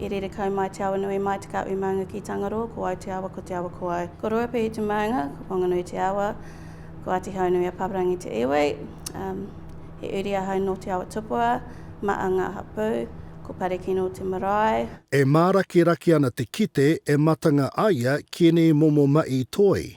I rere kau mai te awa nui mai te kahui maunga ki Tangaroa, ko au te awa, ko te awa ko au. Ko Ruapehu te maunga, ko Whanganui te awa, ko Atihaunui a Paparangi te iwi. He uri ahau nō Te Awatupua, ma a ngā hapū, ko Parekino te marae. E mārakiraki ana te kite e matanga aia ki enei momo maʻi toi.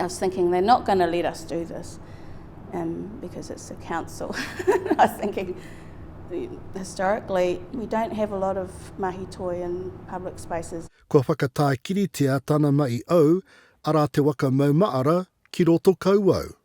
I was thinking they're not going to let us do this um, because it's a council. I was thinking historically we don't have a lot of mahi toi in public spaces. Kua whakatākiritia tana mahi au, arā te waka maumaara ki roto kauau.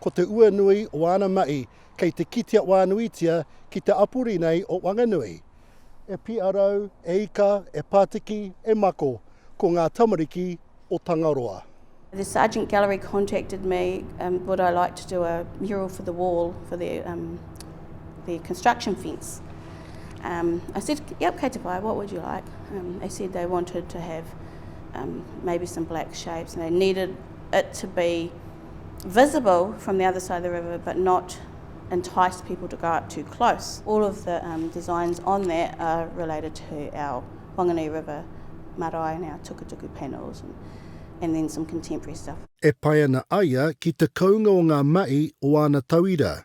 Ko te ua nui o āna mahi kei te kitea wānuitia ki te apuri nei o Wanganui. E piarau, e ika, e pātiki, e mako, ko ngā tamariki o Tangaroa. The Sargent Gallery contacted me um would I like to do a mural for the wall for their um their construction fence. Um I said yep kei te pai what would you like? Um they said they wanted to have um maybe some black shapes and they needed it to be visible from the other side of the river but not entice people to go up too close. All of the um, designs on that are related to our Wanganui River marae and our tukutuku panels and, and then some contemporary stuff. E pai ana a ia ki te kounga o ngā mahi o āna tauira,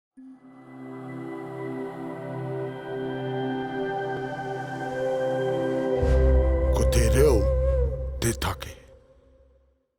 Ko te reo te take.